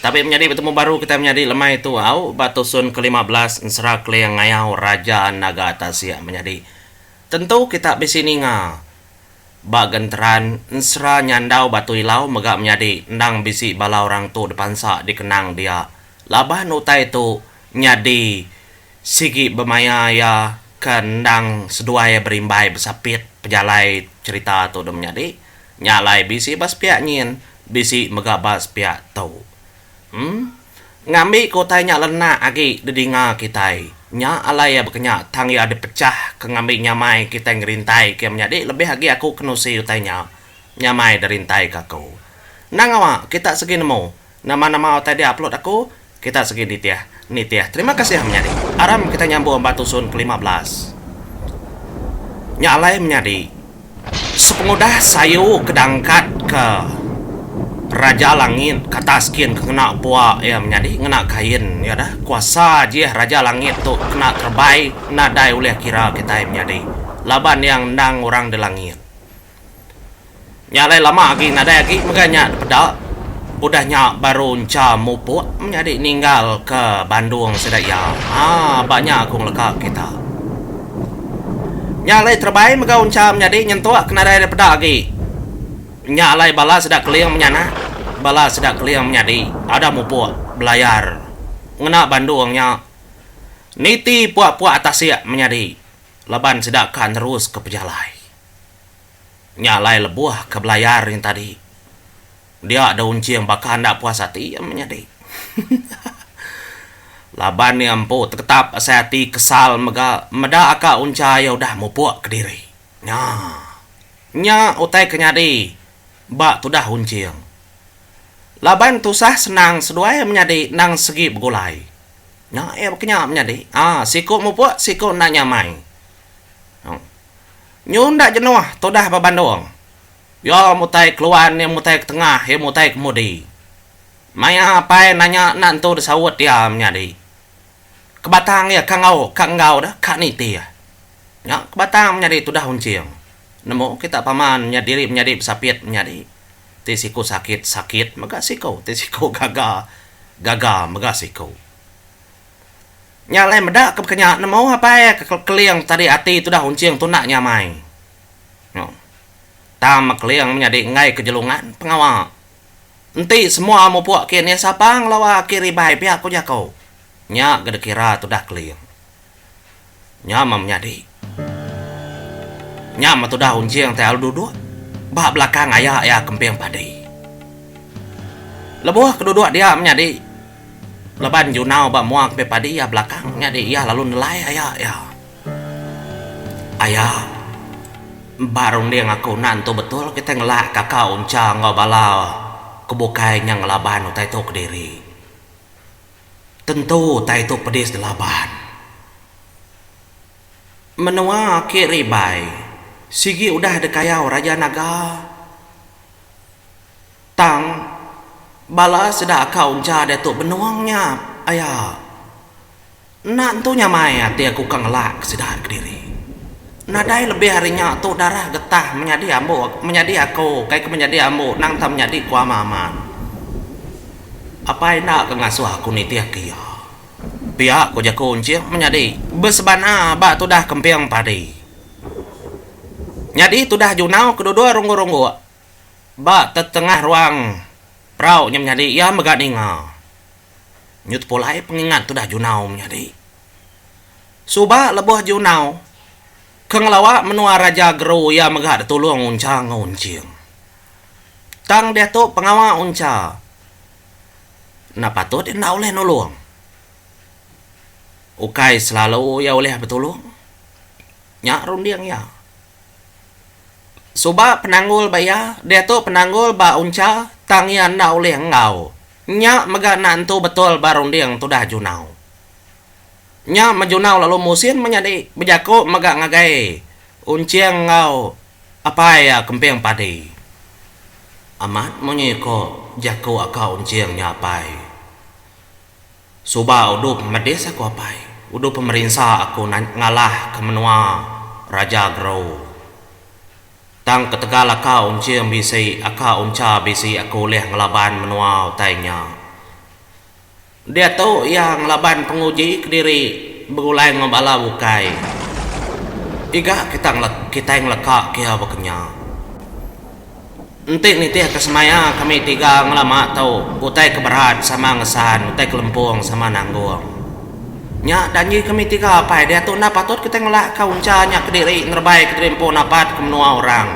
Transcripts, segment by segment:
Tabi menyadi betemu baru kitai menyadi lemai tu au ba tusun ke lima belas ensera keling ngayau Raja Naga Tasik menyadi. Tentu kita bisi ninga ba genteran ensera nyandau Batu Ilau mega menyadi endang bisi bala orang tu dipansa dikenang dia laban utai tu nyadi sigi bemaya iya ke endang seduai berimbai besapit pejalai cherita tu deh menyadi. Nya alai bisi ba sepiak nyin, bisi mega ba sepiak tu. Em. Ngambi ke utai nya lenak agi didinga kitai. Nya alai iya bekenya tang iya dipechah ke ngambi nyamai kitai ngerintai ke menyadi lebih agi aku ke nusi utai nya. Nyamai derintai ke aku. Endang awa kita segi nemu. Nama-nama utai dia upload aku kita sigi ditih nitih terima kasih menyadi aram kita nyambung ba tusun ke lima belas nya alai menyadi sepengudah sayu ke dangkat ke raja langit ke atas gin ke ngena bua iya menyadi ngena kain iya dah kuasa jih raja langit tu kena terebai nadai ulih kira kitai menyadi laban iya ngendang orang di langit. Nya alai lama agi nadai agi mega nya dipeda. Udah nya baru encha mupuk menyadi ninggal ke Bandung sida iya. Haa ba nya aku ngeleka kita. Nya alai terebai mega uncha menyadi nyentuk ke nadai dipeda agi. Nya alai bala sida Keling menyanak, bala sida Keling menyadi ada mupuk belayar ngena Bandung nya niti puak-puak tasik menyadi laban sida ka neruska pejalai. Nya alai lebuh ke belayar nya tadi. Dia deh unching baka enda puas ati iya menyadi. Laban iya empu tegetap asai ati kesal mega meda ka uncha iya udah mupuk kediri. Nya. Nya utai ke nyadi ba tudah unching. Laban tusah senang seduai menyadi endang segi begulai. Nya iya baka nya menyadi. Aa siku mupuk siku enda nyamai. Nyu enda jenuh tudah ba Bandung. Iya mutai keluan, iya mutai ke tengah, iya mutai kemudi. Maya apai nanya enda entu disaut iya menyadi. Ke batang iya ka enggau ka enggau deh ka nitih. Nya ke batang menyadi tudah unching. Nemu kita paman nya diri menyadi besapit menyadi. Ti siku sakit, sakit mega siku. Ti siku gaga, gaga mega siku. Nya alai meda ke baka nya nemu apai ke keling tadi ati tudah unching tuna nya amai. Nyo. Tam keling menyadi enggai ke jelungan pengawa. Enti semua mupuk ke nih sapa ngelawa ke ribai pia ko jako. Nya ga dikira tudah keling. Nya meh menyadi. Nya meh tudah unjing ti alu duduk ba belakang aya iya kemping padi. Lebuh ke duduk dia menyadi laban junau ba mua kemping padi iya belakang nyadi iya lalu nelai aya iya. Aya, ba runding aku enda nentu betul kitai ngelak kaka unca enggau bala ke bukai nya ngelaban utai tu kediri. Tentu utai tu pedis dilaban. Menua ake ribai sigi udah dikayau Raja Naga tang bala sida ka uncha diatu benung nya aya enda entu nyamai ati aku ka ngelak ke sida kediri nadai lebih ari nya tu darah getah menyadi ambo menyadi aku kai ke menyadi ambo nang tau menyadi ku Aman apai enda ka ngasuh aku nitih ke iya. Pia ko jako Encik menyadi besebana ba tudah kemping padi. Nyadi tudah junau kedudul ronggok-ronggok ba tetengah ruang perau nya menyadi iya mega ninga. Nyu tepulai pengingat tudah junau menyadi. Suba lebuh junau ke ngelawa menua Raja Geru iya mega ditulung Uncha enggau Enching. Tang diatu pengawa Uncha. enda patut iya enda ulih nulung. Ukai selalu iya ulih betulung. Nya runding iya. Suba penanggul ba iya, diatu penanggul ba Uncha tang iya enda ulih enggau. Nya mega enda entu betul ba runding tudah Junau. Nya Majunau lalu Musin menyadi bejako mega ngagai Unching enggau apai iya Kemping Padi. Amat munyi ko jako aka Unching nya apai. Suba udup medis aku apai, udup pemerinsa aku ngalah ke menua Raja Grou. Tang ketegal aka Unching bisi aka Uncha bisi aku ulih ngelaban menua utai nya. Diatu iya ngelaban penguji kediri begulai enggau bala bukai. Iga kita kitai ngeleka ke iya bekenya. Enti nitihka semaya kami tiga ngelama tu utai ke berat sama ngesan utai ke lempung sama nanggung. Nya janji kami tiga apai diatu enda patut kitai ngelakka uncha nya kediri ngerebai kediri empu napat ke menua orang.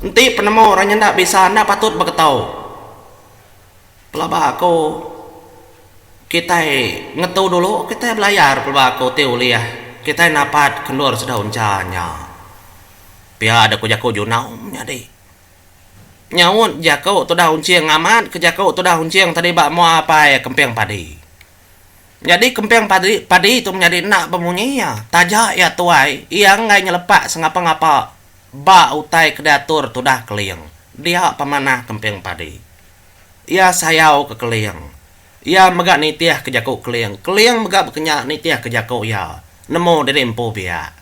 Enti penemu orang nyenda bisa enda patut beketu. Pelaba aku kitai ngetu dulu kitai belayar pelaba aku ti ulih kitai napat kendur sedau encha nya. Pia da ku jaku Junau menyadi nyaut jaku tudah unching amat ke jaku tudah unching tadi ba mua apai kemping padi. Nyadi kemping padi padi tu menyadi enda bemunyi iya taja iya tuai iya enggai nyelepak sengapa-ngapa ba utai ke diatur tudah Keling dia pemanah kemping padi. Iya sayau ke Keling. Iya mega nitih ke jaku Keling. Keling mega bekenya nitih ke jaku iya nemu diri empu biak.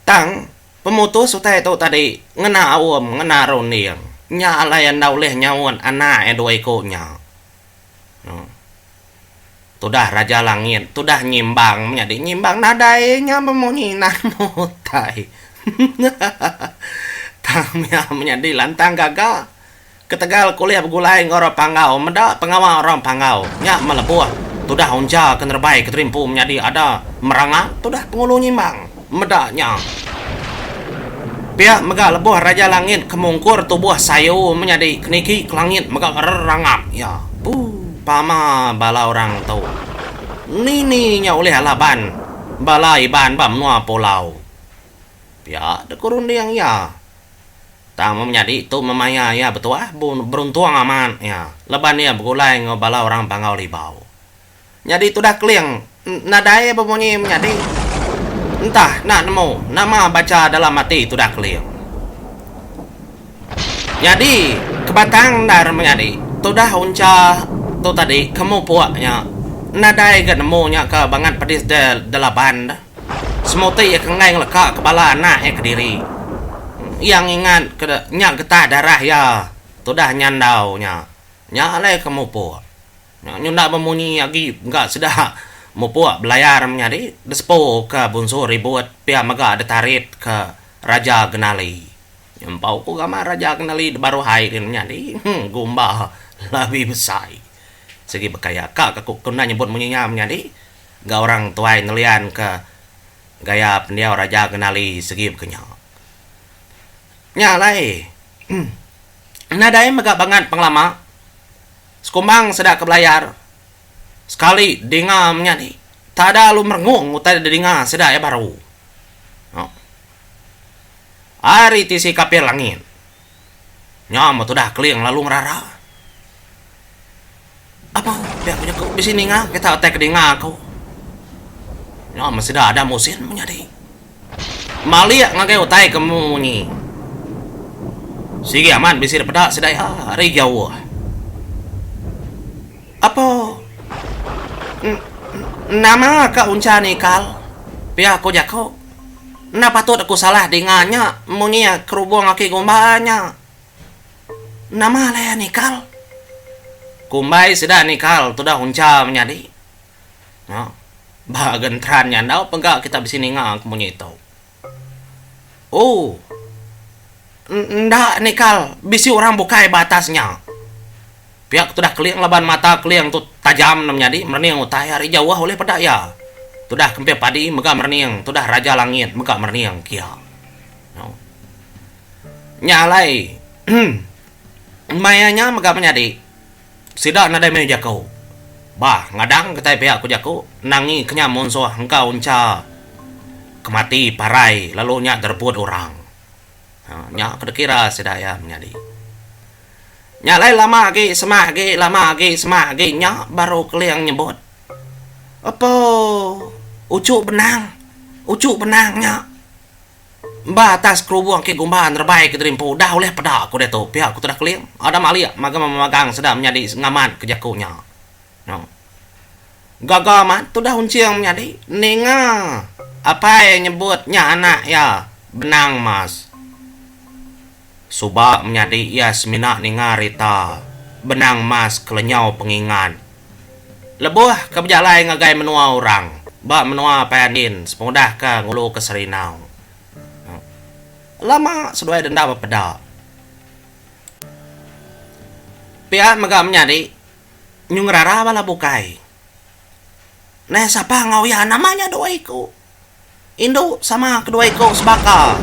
Tang, pemutus utai tu tadi ngena Aum ngena runding nya alai enda ulih nyaut anak iya dua iku nya. Tudah Raja Langit, tudah nyimbang menyadi nyimbang nadai nya bemu nginan mu utai. Tang mia menyadi lantang gaga. Ketegal ke ulih begulai enggau orang Panggau meda pengawa orang Panggau nya melebuh tudah uncha ke nerebai Kediri Empu menyadi ada meranga tudah Pengulu Nyimbang. meda nya. Pia mega lebuh Raja Langit ke mungkur tubuh sayu menyadi ke niki ke langit mega rerangap iya. Ooh pama bala orang tu. Nini nya ulih ala ban bala Iban ba menua pulau. Pia dek ku runding iya. Tang mun menyadi tu memaya iya betuah beruntung amat iya leban iya begulai enggau bala orang Panggau Libau. Nyadi tudah keling nadai bemunyi menyadi. Entah enda nemu nama bacha dalam ati tudah keling. Nyadi kebatang endar menyadi tudah uncha tu tadi ke mupuk nya nadai ga nemu nya ka bangat pedis da delaban da. Semuti iya ke enggai ngeleka ke bala anak iya kediri. Iya ngingat ke nya getah darah iya tudah nyandau nya. Nya alai ke mupuk. Nyulah bemunyi agi ga sida mupuk belayar menyadi desepu ka bunsu ribut pia mega detarit ka Raja Genali. Nyempau ku gamal Raja Genali debaruh ai din menyadi gumba labi besai. Sigi bekai aka ka ku kena nyebut munyi nya menyadi ga orang tuai nelian ka gaya pendiau Raja Genali segi bekenya. Nya alai nadai mega bangat pengelama. Sekumbang seda ke belayar sekali dinga menya ni tada lalu merengung utai da dinga sida iya baru. Ohh. Ari tisi kapil langit nya meh tudah Keling lalu ngerara. Apo pia ku jaku bisi ninga kita utai ke dinga aku. Nya meh sida Adam Usin menyadi. Malik ngagai utai ke munyi. Sigi amat bisi da peda sida iya ari jauh. Apo nama ka uncha ni kal? Pia ku jaku. Enda patut aku salah dinga nya munyi kerubung aki Gumba nya. Nama alai iya ni kal? Kumbai sida ni kal tudah uncha menyadi. Nya ba genteran nya enda pega kita bisi ninga ke munyi tu. Oh. Enda nikal bisi orang bukai ba atas nya. Pia ke tudah Keling laban mata Keling tu tajam endang menyadi merening utai ari jauh ulih peda iya. Tudah Kempin Padi mega merening tudah Raja Langit mega merening ke iya. Nau. Nya alai. Maya nya mega menyadi. Sida nadai meh jaku. Bah, ngadang kitai pia ku jaku, nangi kenyam munsoh engka uncha ke mati parai lalu nya dereput orang. Haa, nya ke dikira sida iya menyadi. Nya alai lama agi sema agi lama agi sema agi nya baru Keling nyebut, Apo, uchu benang, uchu benang nya. Ba atas kerubung ke gumba nerebai ke diri empu dah ulih peda ku diatu, pia ku Tudah Keling. Adam alik magam memagang sedar menyadi ngamat ke jaku nya. Nya. Gaga amat Tudah Unching menyadi ninga apai nyebut nya anak iya Benang Mas. Suba menyadi iya semina ninga rita benang mas kelenyau pengingat lebuh ke bejalai ngagai menua orang ba menua Paya Ndin sepengudah ke ngulu ke Serindau. Lama seduai denda bepeda. Pia mega menyadi nyu ngerara bala bukai. Neh sapa enggau iya nama nya dua iku. Indu sama kedua iku sebaka.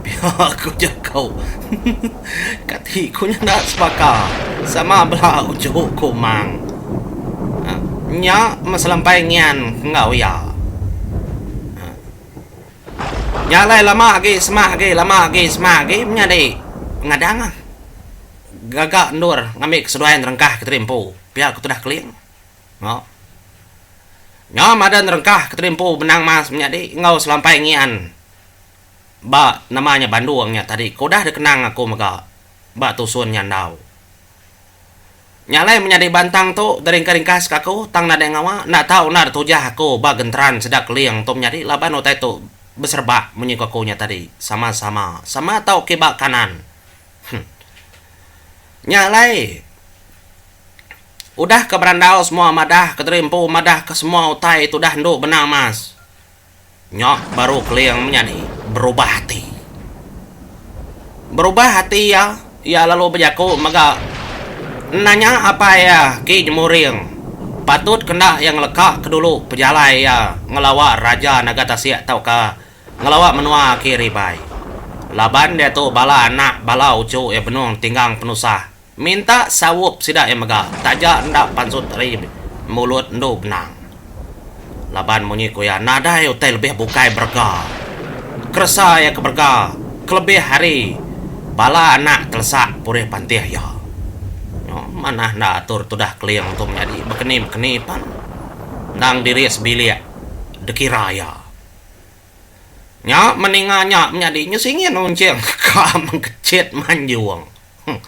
Pia ku jaku. Kati ku nyenda sebaka. Sama bela uchu ku mang. Nya meselempai ngian enggau iya. Nya alai lama agi semah agi lama agi semah agi menyadi pengadang gaga endur ngambi keseduai nerengkah Ketirimpu pia ku tudah Keling. Nya. Nya madah nerengkah Ketebi Empu Benang Mas menyadi enggau Selampai Ngian ba nama nya bandung nya tadi ke udah dikenang aku mega ba tusun nya endau. Nya alai menyadi bantang tu diringkas-ringkaska aku tang nadai ngawa enda tau enda ditujah aku ba genteran sida Keling tu menyadi laban utai tu beserebak munyi ku aku nya tadi sama-sama sama tau kiba kanan. Huh. Nya alai. Udah ke berandau semua madah Kediri empu madah ke semua utai tudah endu benang mas. Nya baru Keling menyadi berubah ati. Berubah ati iya, iya lalu bejaku mega nanya apai iya Ki Jemuring patut ke enda iya ngeleka ke dulu pejalai iya ngelawa Raja Naga Tasik tauka ngelawa menua Kiri Bai. Laban diatu bala anak bala uchu iya benung tinggang penusah. Minta saup sida iya mega taja enda pansut ari mulut endu benang. Laban munyi ku iya nadai utai lebih bukai berega. Keresa iya ke berega kelebih ari bala anak telesak purih pantih iya. Nyo manah enda atur tudah Keling tu menyadi bekeni-bekeni pan endang diri sebilik dikira iya. Nya meninga nya menyadi nyo singin unching ka mengkechit manjung. Huh.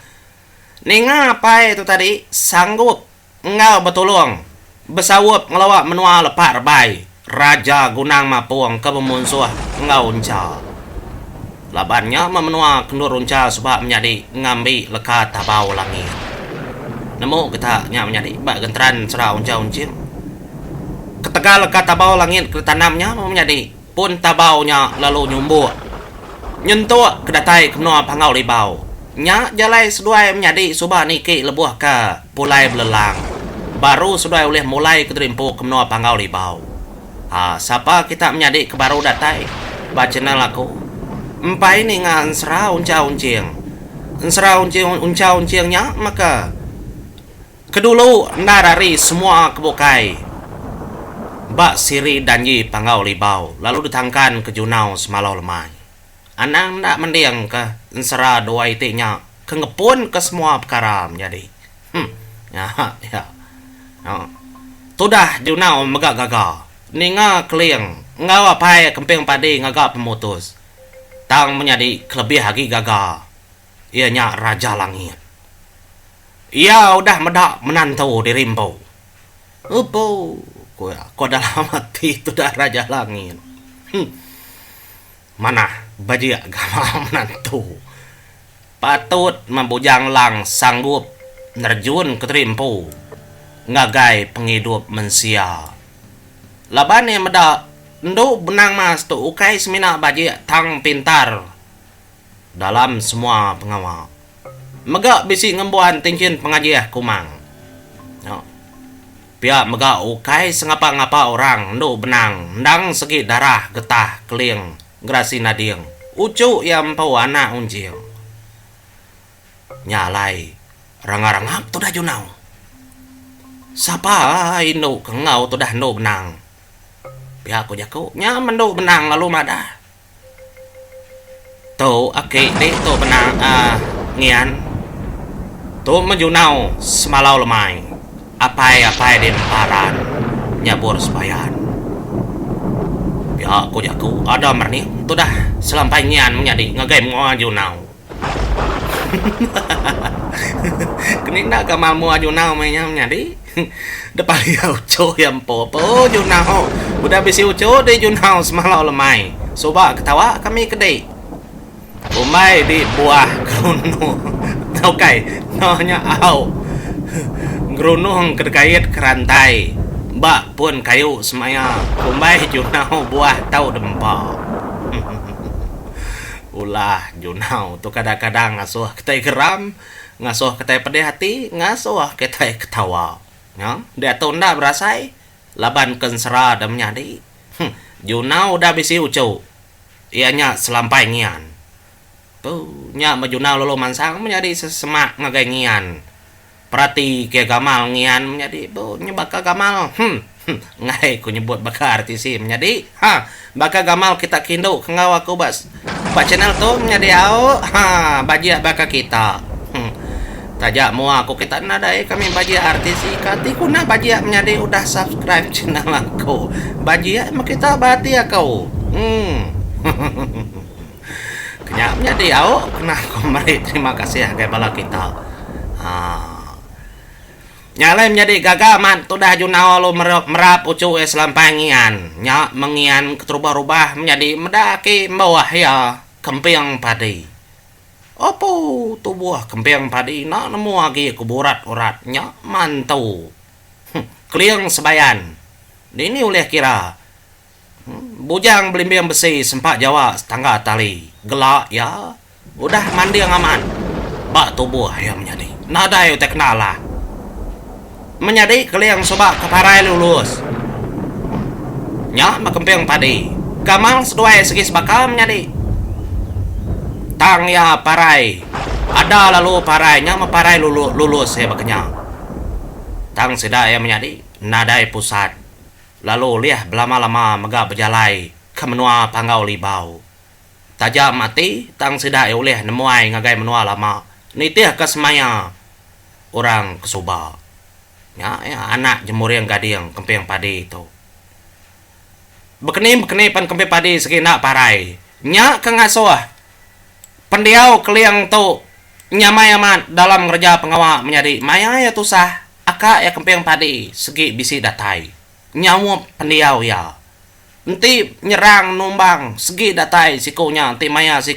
Ninga apai tu tadi sanggup enggau betulung besaup ngelawa menua lepa rebai Raja Gunang Mapung ke bemunsuh enggau Uncha. Laban nya meh menua kendur Uncha suba menyadi ngambi leka Tabau Langit. Nemu kita nya menyadi ba genteran Sera Uncha Unchim. Ketegal leka Tabau Langit ke ditanam nya meh menyadi pun tabau nya lalu nyumbuk nyentuk ke datai ke menua Panggau Libau. Nya jalai seduai menyadi suba niki lebuh ke pulai belelang baru seduai ulih mulai ke diri empu ke menua Panggau Libau. Ha, sapa kita menyadi ke baru datai ba channel aku, empai ninga ensera unchau enching. Ensera unching unchau enching nya maka. Kedulu endar ari semua ke bukai ba Siri Danji Panggau Libau lalu ditangkan ke Junau semalau lemai. Anang enda mendingka ensera dua iti nya ke ngepunka semua pekara menyadi. Huh. Nya iya. Nya. Tudah Junau mega gaga ninga Keling enggau apai kemping padi ngaga pemutus tang menyadi kelebih agi gaga. iya nya Raja Langit. Iya udah meda menantu diri empu. Empu, ku iya, ko dalam ati tudah Raja Langit. Huh. Manah bejik gawa menantu. Patut meh Bujang Lang sanggup nerjunka diri empu ngagai pengidup mensia. Laban iya meda endu benang mas tu ukai semina bejik tang pintar. dalam semua pengawa. Mega bisi ngembuan tinchin pengajih kumang. Nya. Pia mega ukai sengapa-ngapa orang endu benang endang segi darah getah keling gerasi nading uchu iya empu anak unjing. Nya alai rangap-rangap tudah junau. Sapa indu ke enggau tudah endu benang. Pia ku jaku nya men endu benang lalu madah. Tu aki di tu benang um ngian tu meh junau semalau lemai apai apai di nemparan nyabur sebayan pia ku jaku ada merenik tu dah selampai ngian menyadi ngagai mengoa junau. Hahahahaha keni enda ka mamua junau meh nya nyadi deh paya uchu iya empu empu junau udah bisi uchu deh junau semalo lemai suba ketawa kami ke dih umbai dih buah gerunuk ukai eno nya au gerunuk ke dikait ke rantai ba pun kayu semaya umbai junau buah tau dempa. Ulah Junau tu kadang-kadang ngasuh kitai geram, ngasuh kitai pedih ati, ngasuh kitai ketawa. Nya, diatu enda berasai laban ke ensera deh menyadi. Huh, Junau udah bisi uchu. Iya nya selampai ngian. Puh, nya meh Junau lalu mansang menyadi sesemak ngagai ngian. Perati ke gamal ngian menyadi tu nyebaka gamal hum hum enggai ku nyebut baka RTC menyadi ha baka gamal kita ke indu ke enggau aku ba ba channel tu menyadi au ha bajik baka kita hum taja mua ku kita nadai kami bajik RTC ka ti ku nah bajik menyadi udah subscribe channel aku bajik meh kita ba ati aku hum. Ke nya menyadi au nah aku meri terima kasih ngagai bala kita aaa nya alai menyadi gaga man tudah junau alu mera puchu iya selampang ngian nya mengian keterubah rubah menyadi meda ake mbuah iya kemping padi opo tubuh kemping padi ina nemu agi ke burat urat nya mantu huh keling sebayan dini ulih kira Bujang belimbing besi sempa jawa setangga tali gela iya udah manding amat ba tubuh iya menyadi. Nadai utai kena alah. Menyadi keling suba ke parai lulus. Nya ba kemping padi. Kamang seduai segi sebaka menyadi. Tang iya parai ada lalu parai nya meh parai lulus iya baka nya. Tang sida iya menyadi nadai pusat. lalu ulih belama-lama mega bejalai ke menua Panggau Libau. Taja mati tang sida iya ulih nemuai ngagai menua lama nitihka semaya orang ke suba. Nya iya anak jemuring gading kemping padi tu. Bekeni-bekeni pan kemping padi sigi enda parai. Nya ke ngasuh pendiau Keling tu nyamai amat dalam ngereja pengawa menyadi maya iya tusah. Aka iya kemping padi segi bisi datai nyaup pendiau iya. Enti nyerang numbang segi datai siku nya enti maya si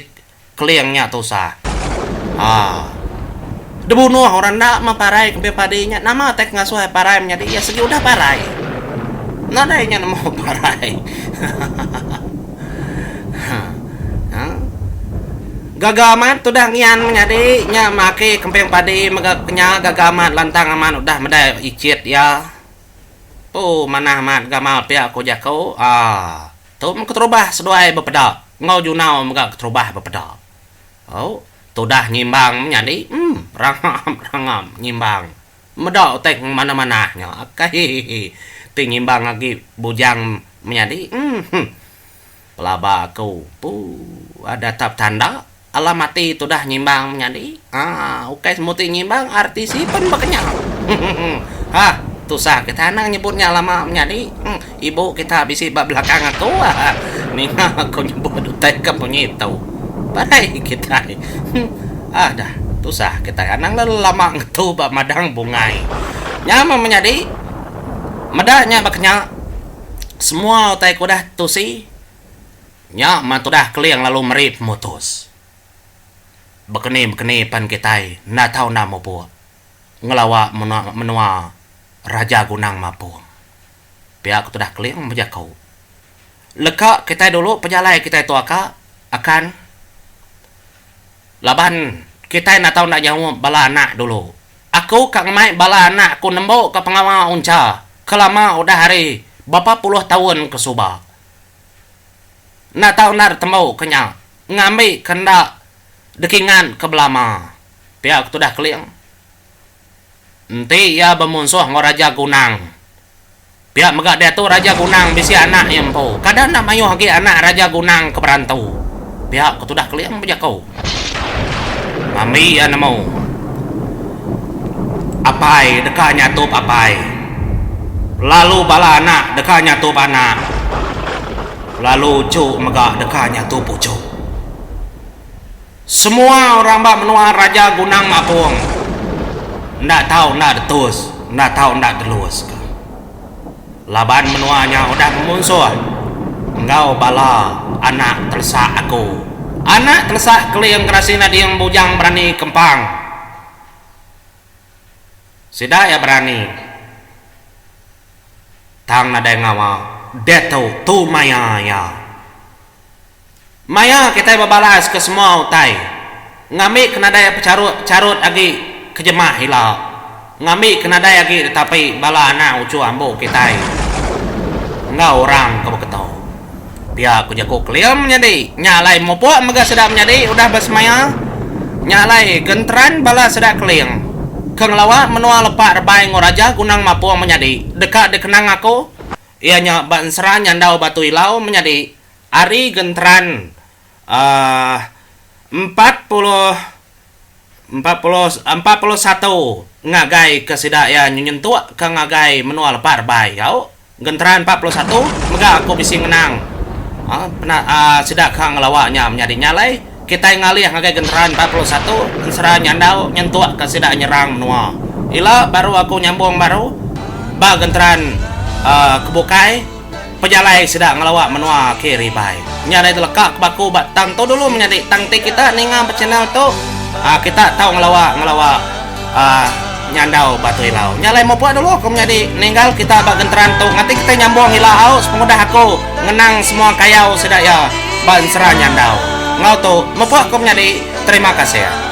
Keling nya tusah. Haa. Dibunuh orang enda meh parai kemping padi nya nama tai kengasuh ai parai menyadi iya segi udah parai. Nadai nya nemu parai. Haa. Haa. Gaga amat tudah ngian menyadi nya maki kemping padi mega kenya gaga amat lantang amat udah medai ichit iya. Tu manah amat gamal pia ko jako aa tu men keterubah seduai bepeda enggau junau mega keterubah bepeda au tudah nyimbang menyadi emm rangam rangam nyimbang meda utai ke manah manah nya akai hihihi ti nyimbang agi bujang menyadi emm. Pelaba aku tu datap tanda alah mati tudah nyimbang menyadi aah ukai semua ti nyimbang RTC pen ba kenyah heeh hah tusah kita anang nyebut nya lama menyadi huh ibu kita bisi ba belakang aku aah ninga aku nyebut utai ke munyi tu barai kitai huh aah dah tusah kitai anang le lama ngetu ba madang bungai nya meh menyadi meda nya ba kenyah. Semua utai ke udah tetusi nya meh tudah Keling lalu meri pemutus. Bekeni-bekeni pen kitai enda tau enda mupuk ngelawa menua Raja Gunang Mapong. Pia ke tudah Keling bejaku, Leka kitai dulu pejalai kitai tu aka akan laban kitai enda tau enda nyaup bala anak dulu. Aku ka ngemai bala anak aku nembu ke pengawa uncha kelama udah hari bapa puluh taun ke suba. Enda tau enda ditembu ke nya ngambi ke enda dikingat ke belama, pia ke tudah Keling. Enti iya bemunsuh enggau Raja Gunang. Pia mega diatu Raja Gunang bisi anak iya empu. Kada enda mayuh agi anak Raja Gunang ke berantu. Pia ke tudah Keling bejaku. Mambi iya nemu. Apai deka nyatup apai. Lalu bala anak deka nyatup anak. Lalu uchu mega deka nyatup uchu. Semua orang ba menua Raja Gunang Mapong enda tau enda detus enda tau enda delus ka laban menua nya udah memunsuh enggau bala anak telesak aku anak telesak keling gerasi nading bujang berani kempang sida iya berani tang nadai ngawa diatu tu maya iya. Maya kitai bebalas ke semua utai ngambi ke nadai pecharut charut agi ke jemah ila ngambi ke nadai agi ditapi bala anak uchu ambo kitai enggau orang ke beketo. Pia ku jaku Klim nyadi nya alai mupuk mega sida menyadi udah besemaya nya alai genteran bala sida Kling ke ngelawa menua lepa rebai enggau Raja Gunang Mapung menyadi deka dikenang aku iya nya ba ensera nyandau Batu Ilau menyadi Ari genteran empat puluh empat puluh empat puluh satu ngagai ke sida iya nyentuk ke ngagai menua lepa rebai gau genteran empat puluh satu mega aku bisi ngenang sida ka ngelawa nya menyadi nya alai. Kitai ngalih ngagai genderaan empat puluh satu ensera nyandau nyentuk ka sida nyerang menua ila baru aku nyambung baru ba genderaan uhh ke bukai pejalai sida ngelawa menua ke ribai nya dai teleka ke baku ba tang tu dulu menyadi tang ti kita ninga ba channel tu uhh kita tau ngelawa ngelawa Nyandau Batu Ilau. Nya alai mupuk dulu aku menyadi ninggal kita ba genteran tu ngati kitai nyambung ila au sepengudah aku ngenang semua kayau sida iya ba ensera nyandau. Enggau tu mupuk aku menyadi terima kasih.